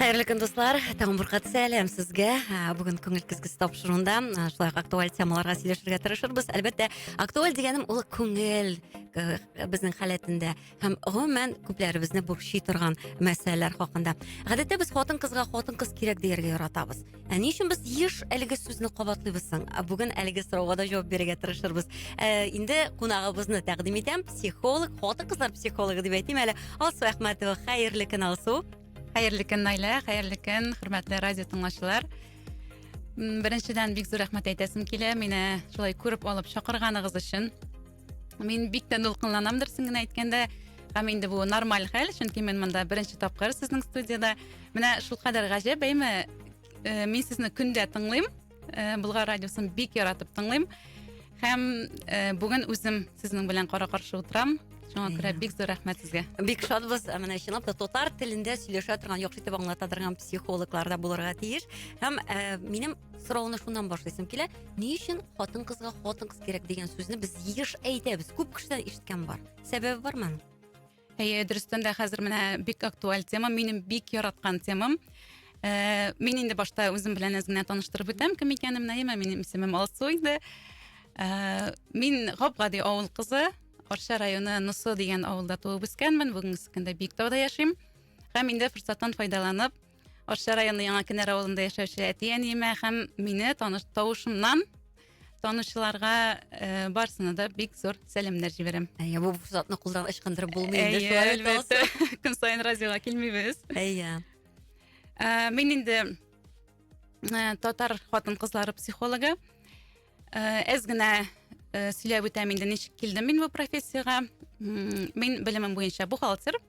Хәерле көн, дуслар. Тагын бер кат сәлам сезгә. Бүген күңел кызгысы тапшыруында шулай ук актуаль темаларга сөйләшергә тырышырбыз. Әлбәттә, актуаль дигәнем ул күңел безнең халәтендә һәм гомумән күпләребезне борчый торган мәсьәләләр хакында. Гадәттә без хатын-кызга хатын-кыз кирәк дияргә яратабыз. ә ни өчен без еш әлеге сүзне кабатлыйбыз соң ә бүген әлеге сорауга да җавап бирергә тырышырбыз ә, инде кунагыбызны тәкъдим итәм психолог хатын кызлар психологы дип әйтим әле алсу әхмәтова хәерле көн алсу хәерле көн наилә хәерле көн хөрмәтле радио тыңлаучылар беренчедән бик зур рәхмәт әйтәсем килә мине шулай күреп алып чакырганыгыз өчен мин бик тә дулкынланам дөресен генә әйткәндә һәм инде бу нормаль хәл чөнки мин монда беренче тапкыр сезнең студияда менә шулкадәр гаҗәп әйме э, мин сезне көндә тыңлыйм э, болгар радиосын бик яратып тыңлыйм һәм э, бүген үзем сезнең белән кара каршы утырам шуңа күрә бик зур рәхмәт сезгә бик шатбыз ә менә чынлап та татар телендә сөйләшә торган яхшы итеп аңлата торган психологлар да булырга тиеш һәм ә, минем сорауны шуннан башлыйсым килә ни өчен хатын кызга хатын кыз кирәк дигән сүзне без еш әйтәбез күп кешедән ишеткән бар сәбәбе бармы аның әйе дөрестән дә хәзер менә бик актуаль тема минем бик яраткан темам ә, мин инде башта үзем белән әз генә таныштырып үтәм кем икәнем наима минем исемем алсу инде ә, мин гап гади авыл кызы арча районы носо дигән авылда туып үскәнмен бүгенге көндә биектауда яшим һәм инде форсаттан файдаланып Арча районы Яңа Кенәр авылында яшәүче әти-әниемә һәм мине таныш тавышымнан танучыларга э, барсына да бик зур сәламнәр җибәрәм. Әйе, бу форсатны кулдан ычкындырып булмый инде. Әйе, шулай бит, Алсу? әлбәттә. Көн сайын радиога килмибез. Әйе. Ә, мин инде ә, татар хатын-кызлары психологы. Ә, Әз генә ә, сөйләп үтәм инде ничек килдем мин бу профессиягә. М, Мин белемем буенча бухгалтер.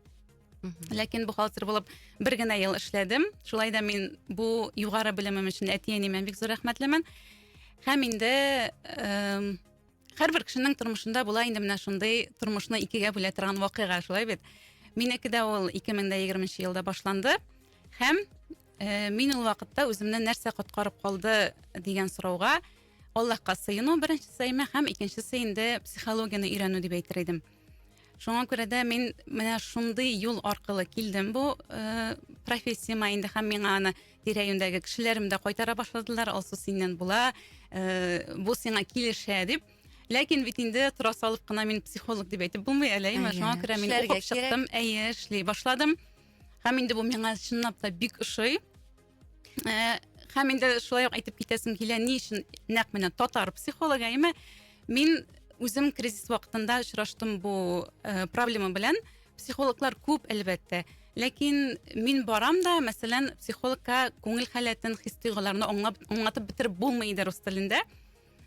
ләкин бухгалтер булып бер генә ел эшләдем шулай да мин бу югары белемем өчен әти әниемә бик зур рәхмәтлемен һәм инде һәрбер кешенең тормышында була инде менә шундый тормышны икегә бүлә торган вакыйга шулай бит минеке дә ул ике мең дә егерменче елда башланды һәм ә, мин ул вакытта үземне нәрсә коткарып калды дигән сорауга аллаһка сыену беренче сәймә һәм икенчесе инде психологияне өйрәнү дип әйтер идем Шуңа күрә дә мин менә шундый юл аркылы килдем бу э, профессияма инде һәм миңа аны тирә-юньдәге кешеләрем дә кайтара башладылар. Алсу синнән була, э, бу сиңа килешә дип. Ләкин бит инде тора салып кына мин психолог дип әйтеп булмый әле, әйме? Әйе, Шуңа күрә мин эшләргә укып чыктым, әйе, эшли башладым. Һәм инде бу миңа чынлап та бик ошый. Ә, һәм инде шулай ук әйтеп китәсем килә, ни өчен нәкъ менә татар психологы, әйме? Мин үзем кризис вакытында очраштым бу э, проблема белән. Психологлар күп, әлбәттә. Ләкин мин барам да, мәсәлән, психологка күңел халәтен, хис тойгыларны аңлатып бетереп булмый иде рус телендә.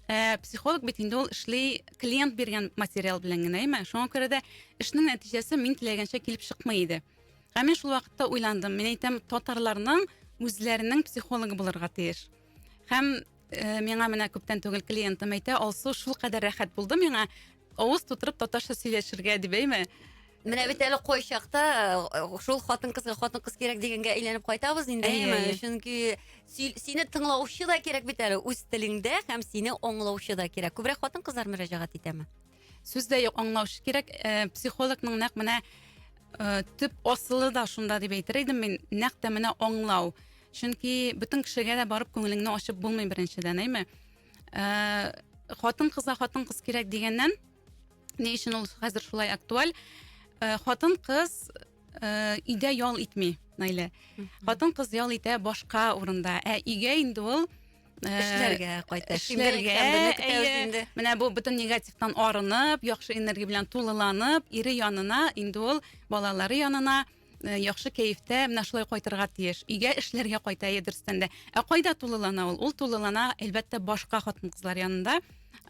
Э, психолог бит инде ул эшли клиент биргән материал белән генә, әйме? Шуңа күрә дә эшнең нәтиҗәсе мин теләгәнчә килеп чыкмый иде. Ә мин шул вакытта уйландым. Мин әйтәм, татарларның үзләренең психологы булырга тиеш. Һәм э, миңа менә күптән түгел клиентым әйтә, Алсу шул кадәр рәхәт булды миңа, авыз тутырып татарча сөйләшергә дип әйме. Менә бит әле кайчакта э, шул хатын кызга хатын кыз кирәк дигәнгә әйләнеп кайтабыз инде, Әйе, әйеме? әйе. Чөнки сөйл- сине тыңлаучы да кирәк бит әле үз телеңдә һәм сине аңлаучы да кирәк. Күбрәк хатын кызлар мөрәҗәгать итәме? сүз дә юк аңлаучы кирәк ә, психологның нәкъ менә ә, төп асылы да шунда дип әйтер идем мин нәкъ тә менә аңлау чөнки бөтен кешегә дә барып күңелеңне ачып булмый беренчедән әйме ә, хатын кызга хатын кыз кирәк дигәннән ни өчен ул хәзер шулай актуаль ә, хатын кыз ә, өйдә ял итми наилә хатын кыз ял итә башка урында ә өйгә инде ул Э, эшләргә кайта эшләргә инде менә бу бөтен негативтан арынып яхшы энергия белән тулыланып ире янына инде ул балалары янына э, яхшы кәефтә менә шулай кайтырга тиеш өйгә эшләргә кайта дөрестән дә ә кайда тулылана ул ул тулылана әлбәттә башка хатын кызлар янында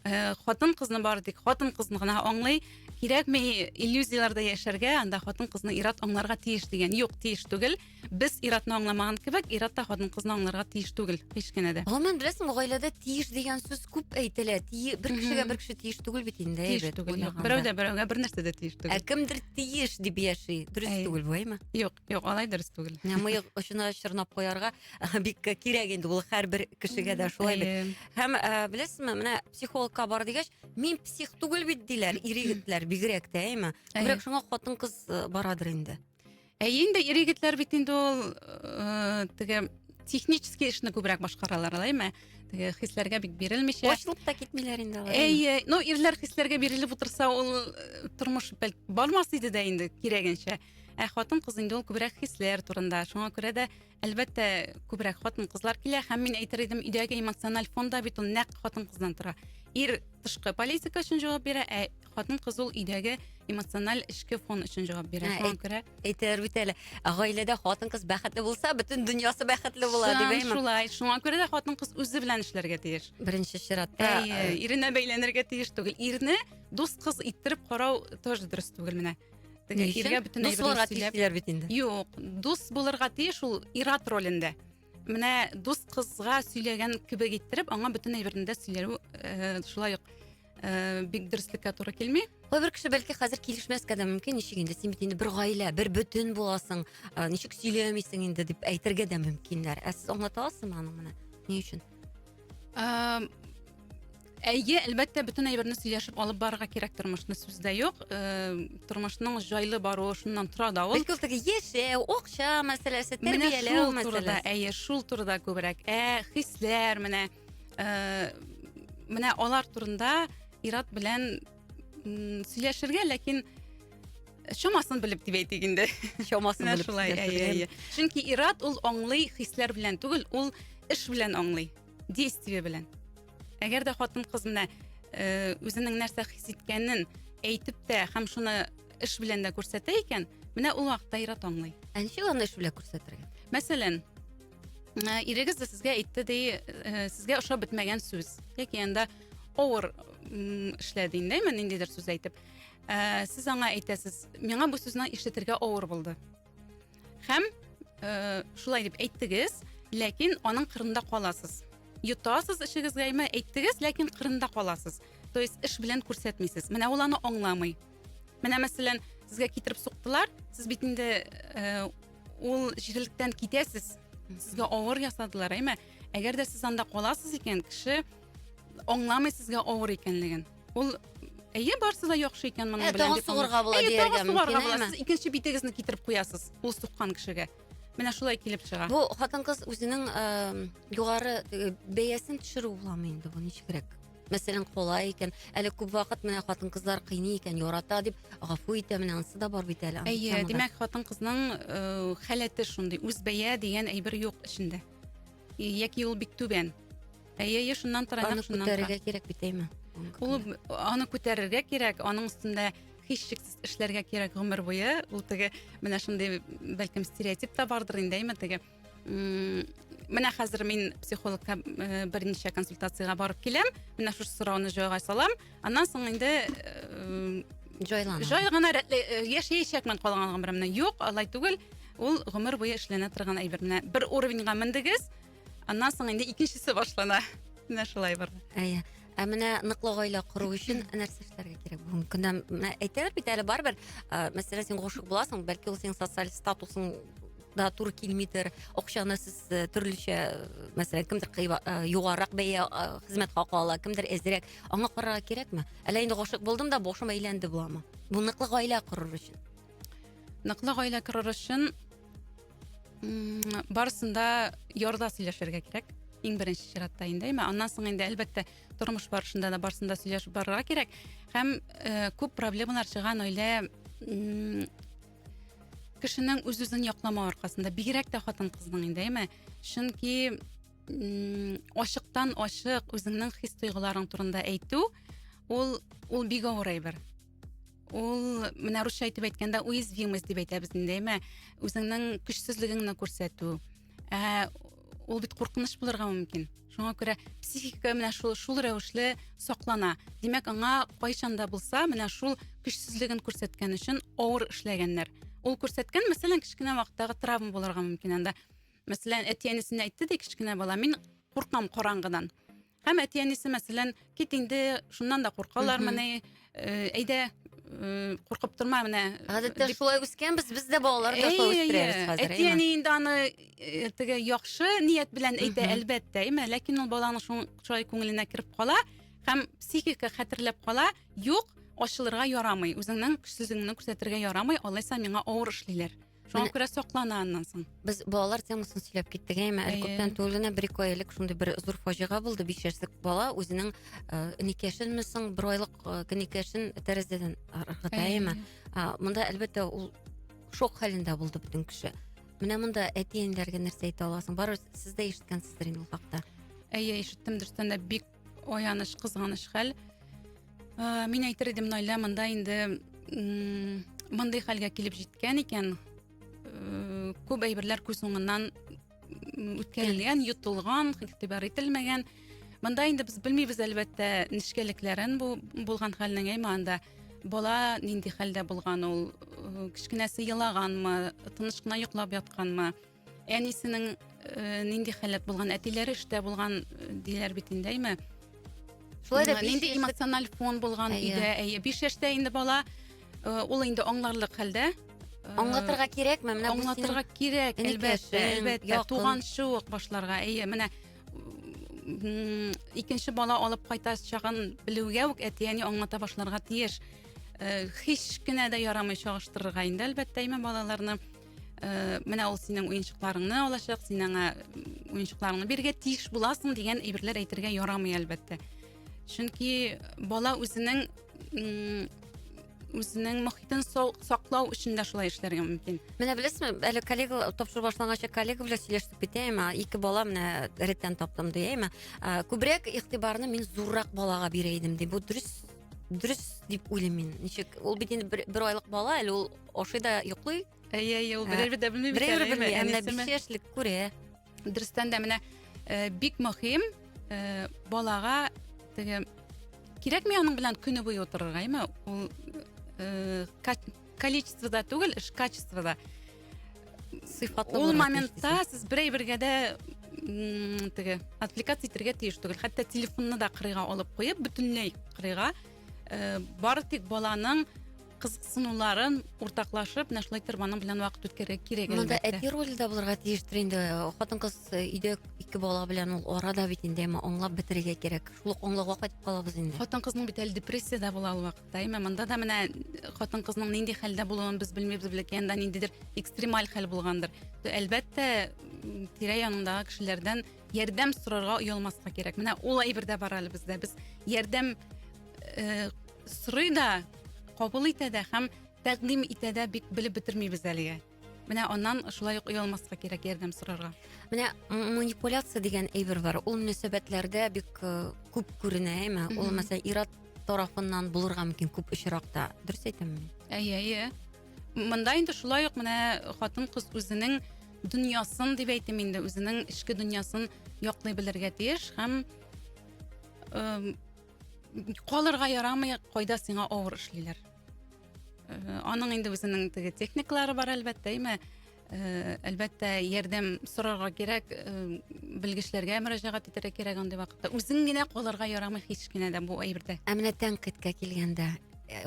Э, хатын кызны бары тик хатын кызны гына аңлый кирәкми иллюзияләрдә яшәргә анда хатын кызны ират аңларга тиеш дигән юк тиеш түгел без иратны аңламаган кебек ират та хатын кызны аңларга тиеш түгел һич кенә дә гомумән беләсең гаиләдә тиеш дигән сүз күп әйтелә бер кешегә бер кеше тиеш түгел бит инде тиеш түгел берәү дә берәүгә бер нәрсә дә тиеш түгел ә кемдер тиеш дип яши дөрес түгел бу әйме юк Юк, алай дөрес түгел. Ә Мыек очына чорнап куярга э, бик кирәк инде ул һәрбер кешегә дә шулай бит. Әйе. Һәм ә, беләсезме, менә психологка бар дигәч, мин псих түгел бит диләр, ир егетләр бигрәк тә, әйме? Әйе. Күбрәк шуңа хатын-кыз э, барадыр инде. Әйе инде ир егетләр бит инде ул э, теге технический эшне күбрәк башкаралар, алайме? Теге хисләргә бик бирелмичә. Ачылып та китмиләр инде алар. Әйе, ну ирләр хисләргә бирелеп утырса, ул э, тормыш бәлки бармас иде дә инде кирәгенчә. Ә хатын-кыз инде ул күбрәк хисләр турында. Шуңа күрә дә, әлбәттә, күбрәк хатын-кызлар килә һәм мин әйтер идем, өйдәге эмоциональ фонда бит ул нәкъ хатын-кыздан тора. Ир тышкы политика өчен җавап бирә, ә хатын-кыз ул өйдәге эмоциональ эчке фон өчен җавап бирә. Шуңа күрә әйтер бит әле, гаиләдә хатын-кыз бәхетле булса, бөтен дөньясы бәхетле була дип әйтәм. Шулай, шуңа күрә дә хатын-кыз үзе белән эшләргә тиеш. Беренче чиратта. Әйе, иренә бәйләнергә тиеш түгел. Ирне дус кыз иттереп карау тоже дөрес түгел менә. Ни өчен? Иргә бөтен Дус әйберне булырга тиеш сөйләп. диләр бит инде. Юк, дус булырга тиеш ул ир-ат ролендә. Менә дус кызга сөйләгән кебек иттереп, аңа бөтен әйберне дә сөйләү э, шулай ук э, бик дөреслеккә туры килми. Кайбер кеше бәлки хәзер килешмәскә дә мөмкин, ничек инде син бит инде бер гаилә, бер бөтен буласың, ә, ничек сөйләмисең инде дип әйтергә дә мөмкиннәр. Ә сез аңлата аласызмы аның менә ни өчен? Э, Әйе, әлбәттә, бөтен әйберне сөйләшеп алып барырга кирәк тормышны сүз дә юк. Э, тормышның җайлы баруы шуннан тора да ул. Бәлки ул теге яшәү, акча мәсьәләсе, тәрбияләү мәсьәләсе. Әйе, шул турыда күбрәк. Ә хисләр менә э, менә алар турында Ират белән сөйләшергә, ләкин чамасын белеп дип әйтик инде чамасын белеп шулай әйе әйе чөнки ират ул аңлый хисләр белән түгел ул эш белән аңлый действие белән әгәр дә хатын кыз менә э, үзенең нәрсә хис иткәнен әйтеп тә һәм шуны эш белән дә күрсәтә икән менә ул вакытта ир-ат аңлый ә ничек аны эш белән күрсәтергә мәсәлән э, ирегез дә сезгә әйтте ди э, сезгә ошап бетмәгән сүз яки анда авыр эшләде инде ниндидер сүз әйтеп ә, сез аңа әйтәсез миңа бу сүзне ишетергә авыр булды һәм э, шулай дип әйттегез ләкин аның кырында каласыз йотасыз эшегезгә ме әйттегез ләкин кырында каласыз то есть эш белән күрсәтмисез менә ул аны аңламый менә мәсәлән сезгә китереп суктылар сез бит инде э, ул җирлектән китәсез сезгә авыр ясадылар әйме әгәр дә сез анда каласыз икән кеше аңламый сезгә авыр икәнлеген Ул Әйе, барсы да яхшы икән моның белән. Тагын сугарга була дияргә мөмкин. Сез икенче битегезне китереп куясыз. Ул суккан кешегә. Менә шулай килеп чыга. Бу хатын-кыз үзенең югары бәясен төшерү буламы инде бу ничегрәк? мәсәлән колай икән әле күп вакыт менә хатын кызлар кыйный икән ярата дип гафу итә менә анысы да бар бит әле әйе димәк хатын кызның э, халәте шундый үз бәя дигән әйбер юк эчендә яки ул бик түбән Әйе, әйе, шуннан тора, Аны шуннан тора. күтәрергә кирәк бит, әйме? Ул аны күтәрергә кирәк, аның өстендә һичшиксез эшләргә кирәк гомер буе. Ул теге менә шундый бәлкем стереотип та бардыр инде, әйме, теге менә хәзер мин психологка э, берничә консультациягә барып киләм, менә шушы сорауны җайга салам, аннан соң инде э, җайлана. Җай гына э, яшәячәкмен калган гомеремне. Юк, алай түгел. Ул гомер буе эшләнә торган әйбер. Менә бер уровеньга мендегез, Аннан соң инде икенчесе башлана. Менә шулай бар. Әйе. Ә менә ныклы гаилә кору өчен нәрсә эшләргә кирәк бүгенге көндә? Менә әйтәләр бит әле барыбер, ә, мәсәлән, син гашык буласың, бәлки ул синең социаль статусың да туры килмидер, акчаны сез э, төрлечә, э, мәсәлән, кемдер кыйба- э, югарырак бәя э, хезмәт хакы ала, кемдер әзрәк. Аңа карарга кирәкме? Әллә инде гашык булдым да башым әйләнде буламы? Бу ныклы гаилә корыр өчен. Ныклы гаилә корыр өчен барысында ярда сөйләшергә кирәк иң беренче чиратта инде әмма аннан соң инде әлбәттә тормыш барышында да барысында сөйләшеп барырга кирәк һәм э, күп проблемалар чыган гаилә кешенең үз үзен якламау аркасында бигрәк тә хатын кызның инде әйме чөнки ачыктан ачык үзеңнең хис тойгыларың турында әйтү ул ул бик авыр әйбер ул менә русча итеп әйткәндә уязвимость дип әйтәбез инде әйме үзеңнең көчсезлегеңне күрсәтү ә ул бит куркыныч булырга мөмкин шуңа күрә психика менә шул шул рәвешле саклана димәк аңа кайчан да булса менә шул көчсезлеген күрсәткән өчен авыр эшләгәннәр ул күрсәткән мәсәлән кечкенә вакыттагы травма булырга мөмкин анда мәсәлән әти әнисенә әйтте ди кечкенә бала мин куркам караңгыдан Һәм әти-әнисе, мәсәлән, кит инде, шуннан да куркалармыни, әйдә, куркып торма менә. Гадәттә шулай үскәнбез, без дә балалар ташлап үстерәбез хәзер. Әти-әни инде аны теге яхшы ният белән әйтә, әлбәттә, әйме, ләкин ул баланың шулай күңеленә кереп кала һәм психика хәтерләп кала, юк, ачылырга ярамый, үзеңнең көчсезлегеңне күрсәтергә ярамый, алайса миңа авыр эшлиләр. Шуңа күрә соклана аннан соң. Без балалар темасын сөйләп киттек, әйме, әле күптән түгел генә бер ике ай элек шундый бер зур фаҗига булды. Биш яшьлек бала үзенең инекәшенме э, соң, бер айлык э, инекәшен тәрәзәдән ыргыта, әйме. Монда әлбәттә ул шок хәлендә булды бөтен кеше. Менә монда әти-әниләргә нәрсә әйтә аласың? Барыбыз сез дә ишеткәнсездер инде ул хакта. Әйе, ишеттем, дөрестән дә бик аяныч кызганыч хәл ә, мин әйтер идем наилә монда инде мондый хәлгә килеп җиткән икән ә, күп әйберләр күз уңыннан үткәрелгән йотылган игътибар ителмәгән монда инде без белмибез әлбәттә нечкәлекләрен бу булган хәлнең әмма анда бала нинди хәлдә булган ул кечкенәсе елаганмы тыныч кына йоклап ятканмы Әнисенең э, нинди халәт булган, әтиләре эштә булган э, диләр бит инде, әйме. Шулай да нинди эмоциональ фон булган иде. Әйе, 5 яшьтә инде бала э, ул инде аңларлык хәлдә. Э, аңлатырга кирәкме? Менә бу аңлатырга кирәк, әлбәттә, әлбәттә, туган шук башларга. Әйе, менә икенче бала алып кайта чагын белүгә үк әти-әни аңлата башларга тиеш. Э, һич кенә дә ярамый чагыштырырга инде, әлбәттә, әйме балаларны. ә, менә ул синең уенчыкларыңны алачак син аңа уенчыкларыңны бирергә тиеш буласың дигән әйберләр әйтергә ярамый әлбәттә чөнки бала үзенең үзенең мохитен саклау өчен дә шулай эшләргә мөмкин менә беләсезме әле коллега тапшыру башланганчы коллега белән сөйләшеп китәем ике бала менә реттән таптым ди әйме күбрәк игътибарны мин зуррак балага бирә идем ди бу дөрес дөрес дип уйлыйм мин ничек ул бит инде бер айлык бала әле ул ашый да йоклый әйе әйе ул берәр дә белми берәр белми ә менә биш яшьлек күрә дөрестән дә менә э, бик мөһим э, балага теге кирәкми аның белән көне буе утырырга әйме ул э, количествода түгел эш качествода сыйфатлы ул моментта сез берәй бергә дә теге отвлекаться итәргә тиеш түгел хәтта телефонны да кырыйга алып куеп бөтенләй кырыйга э, бары тик баланың кызыксынуларын уртаклашып менә шулай итеп аның белән вакыт үткәрергә кирәк монда әти роле дә булырга тиештер инде хатын кыз э, өйдә ике бала белән ул арада бит инде әмма аңлап бетерергә кирәк шул ук аңлауга кайтып калабыз инде хатын кызның бит әле депрессияда була ул вакыт Даимә монда да менә хатын кызның нинди хәлдә булуын без белмибез, бәлки анда ниндидер экстремаль хәл булгандыр. То әлбәттә, тирә янындагы кешеләрдән ярдәм сорарга оялмаска кирәк. Менә ул әйбер дә бар әле бездә. Без ярдәм э, сорый да, кабул итә дә һәм тәкъдим итә дә бик белеп бетермибез әлегә. Менә аннан шулай ук оялмаска кирәк ярдәм сорарга. Менә манипуляция дигән әйбер бар. Ул мөнәсәбәтләрдә бик э, күп күренә, әйме? Ул мәсәлән ират тарафыннан булырга мөмкин күп очракта. Дөрес әйтәмме? Әйе, әйе. Монда инде шулай ук менә хатын кыз үзенең дөньясын дип әйтим инде, үзенең эчке дөньясын яклый белергә тиеш һәм э, калырга ярамый, кайда сиңа авыр эшлиләр. Э, аның инде үзенең теге техникалары бар әлбәттә әйме э, әлбәттә ярдәм сорарга кирәк э, белгечләргә мөрәҗәгать итәргә кирәк андый вакытта үзең генә калырга ярамый һич кенә дә бу әйбердә ә менә тәнкыйтькә килгәндә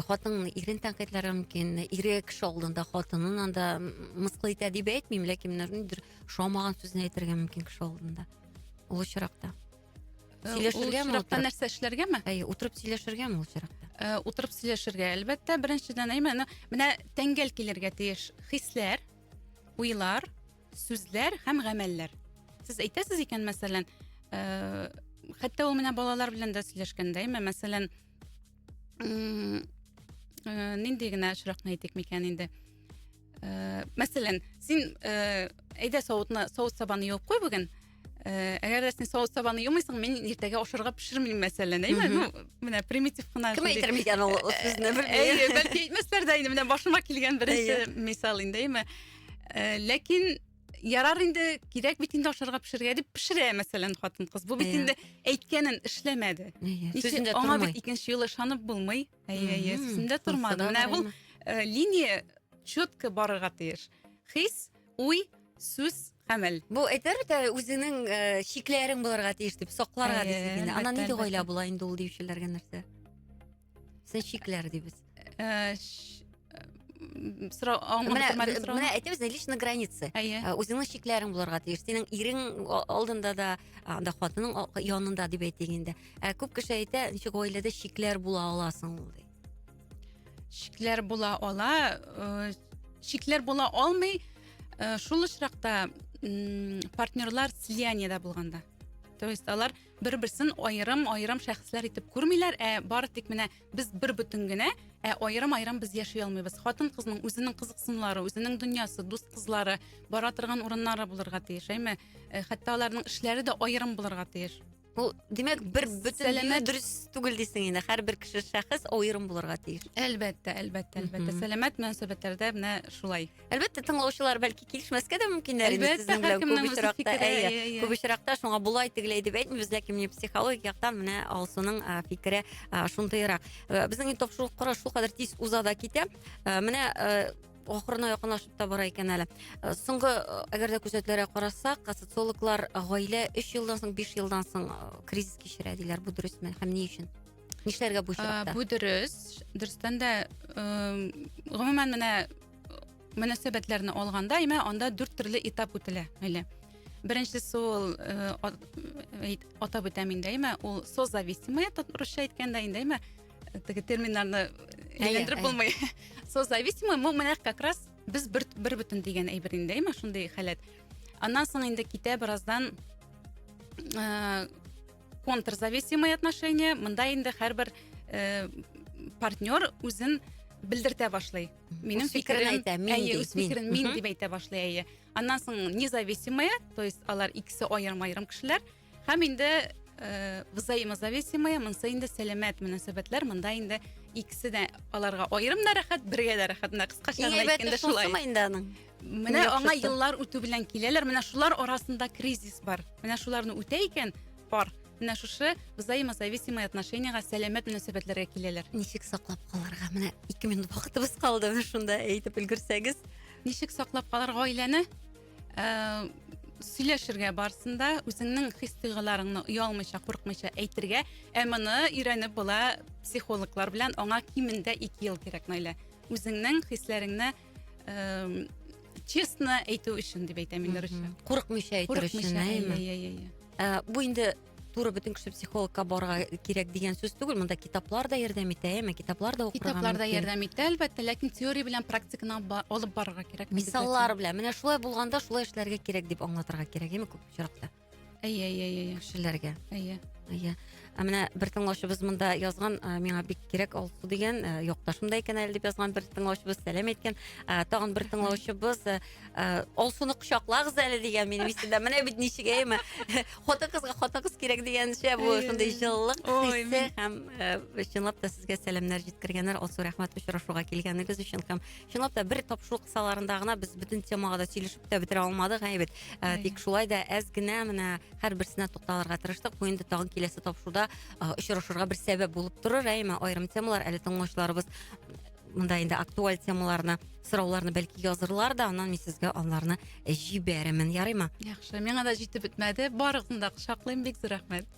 хатын ирен тәнкыйтьләре мөмкин ире кеше алдында хатынын анда мыскыл итә дип әйтмим ләкин менә ниндидер ошамаган сүзне әйтергә мөмкин кеше алдында ул очракта Э, сөйләшергәме ул чиракта нәрсә эшләргәме әй утырып сөйләшергәме ул чиракта э, утырып сөйләшергә әлбәттә беренчедән әйме менә тәңгәл килергә тиеш хисләр уйлар сүзләр һәм гамәлләр сез әйтәсез икән мәсәлән э, хәтта ул менә балалар белән дә сөйләшкәндә әйме мәсәлән нинди генә очракны әйтик микән инде Э, мәсәлән, син э, әйдә савытны савыт сабаны юып куй бүген. Э, әгәр дә син савыт сабаны юмыйсың, мин иртәгә ашарга пешермим, мәсәлән, әйме? Ну, менә примитив кына. Кем әйтер микән ул сүзне бер? Әйе, бәлки әйтмәсләр дә инде, менә башыма килгән беренче мисал инде, әйме? Э, ләкин ярар инде кирәк бит инде ашарга пешерергә дип пешерә мәсәлән хатын кыз бу бит инде әйткәнен эшләмәде аңа бит икенче юлы ышанып булмый Әйе, әйе, сүзендә тормадым. Менә бу э, линия четко барырга тиеш. Хис, уй, сүз, гамәл. Бу әйтер бит үзенең э, чикләрен булырга тиеш дип, сакларга Әйе, дисез инде. Ана әлбәттә, нинди гаилә була инде ул диючеләргә нәрсә? Сез чикләр дибез. Э, сорау менә әйтәбез личный граница әйе ә, үзеңнең чикләрең булырга тиеш синең ирең алдында да анда хатының янында дип әйтик инде ә күп кеше әйтә ничек гаиләдә чикләр була аласың ул ди чикләр була ала э, чикләр була алмый э, шул очракта партнерлар слияниедә булганда то есть алар бер берсен аерым аерым шәхесләр итеп күрмиләр ә бары тик менә Без бер-бөтен генә, ә аерым-аерым без яши алмыйбыз. Хатын-кызның үзенең кызыксынулары, үзенең дөньясы, дус кызлары, бара торган урыннары булырга тиеш, әйме? Э, хәтта аларның эшләре дә аерым булырга тиеш. Бу, димәк, бер бөтен дию дөрес түгел дисең инде. Һәрбер кеше шәхес аерым булырга тиеш. Әлбәттә, әлбәттә, әлбәттә. Сәламәт мөнәсәбәтләрдә менә шулай. Әлбәттә, тыңлаучылар бәлки килешмәскә дә мөмкиннәр инде сезнең белән күп очракта. Әйе, күп очракта шуңа булай тегеләй дип әйтмибез, ләкин менә психологик яктан менә Алсуның фикере шундыйрак. Э, безнең тапшыру кара шулкадәр тиз уза да китә. Э, менә э, ахырына якынлашып та бара икән әле э, соңгы э, әгәр дә күзәтүләргә карасак э, социологлар гаилә өч елдан соң биш елдан соң кризис кичерә диләр бу дөресме һәм ни өчен нишләргә бу чакта бу дөрес дөрестән дә гомумән менә мөнәсәбәтләрне алганда имә анда дүрт төрле этап үтелә әле беренчесе ул атап үтәм инде имә ул созависимые русча әйткәндә инде имә теге терминнарны әйләндереп булмый созависимый бу менә как раз без бер бер бөтен дигән әйбер инде имә шундый халәт аннан соң инде китә бераздан контрзависимый отношения мында инде һәрбер э, партнер үзен белдертә башлый минем фикерен әйтә әйе үз фикерен мин дип әйтә башлый әйе аннан соң независимые то есть алар икесе аерым аерым кешеләр һәм инде э, взаимозависимые монсы инде сәламәт мөнәсәбәтләр монда инде икесе дә аларга аерым да рәхәт бергә дә рәхәт менә кыскача гына әйткәндә шулай инде аның Менә аңа еллар үтү белән киләләр. Менә шулар арасында кризис бар. Менә шуларны үтә икән пар. Менә шушы взаимозависимые отношениега сәламәт мөнәсәбәтләргә киләләр. Ничек саклап калырга? Менә 2 минут вакытыбыз калды. Менә шунда әйтеп өлгерсәгез. Ничек саклап калар гаиләне? Э, сөйләшергә барсында үзеңнең хис тойгыларыңны оялмыйча, куркмыйча әйтергә. Ә моны өйрәнеп була психологлар белән. Аңа кимендә 2 ел кирәк, Наилә. Үзеңнең хисләреңне эм, честно әйтү өчен дип әйтәм инде русча. Курыкмыйча әйтер өчен, Курыкмыйча, әйе, әйеме? әйе, әйе, әйе. Ә, бу инде туры бөтен кеше психологка барга кирәк дигән сүз түгел. Монда китаплар да ярдәм итә, әйеме? Китаплар да укырга Китаплар да мөмкин. ярдәм итә, әлбәттә, ләкин теория белән практиканы ба- алып барырга кирәк. Мисаллар белән. Менә шулай булганда шулай эшләргә кирәк дип аңлатырга кирәк, әйеме, күп очракта. әйе әйе әйе кешеләргә әйе әйе ә менә бер тыңлаушыбыз монда язган ә, миңа бик кирәк алсу дигән ә, якташым да икән әле дип язган бер тыңлаушыбыз сәлам әйткән ә, тагын бер тыңлаушыбыз ә, ә, алсуны кочаклагыз әле дигән минем исемдә менә бит ничек әйме хатын кызга хатын кыз кирәк дигәнчә бу шундый җылылык хисе һәм ә, чынлап та сезгә сәламнәр җиткергәннәр алсу рәхмәт очрашуга килгәнегез өчен һәм чынлап та бер тапшыру кысаларында гына без бөтен темага да сөйлешеп тә бетерә алмадык гаебед ә, тик шулай да әз генә менә һәрберсенә тукталырга тырыштык бу инде тагын киләсе тапшыруда ә, очрашырга бер сәбәп булып торыр әйме аерым темалар әле тыңлаучыларыбыз мында инде актуаль темаларны сорауларны бәлки язырлар да аннан мин сезгә аларны җибәрермен ярыймы яхшы миңа да җитеп бетмәде барыгызны да кочаклыйм бик зур рәхмәт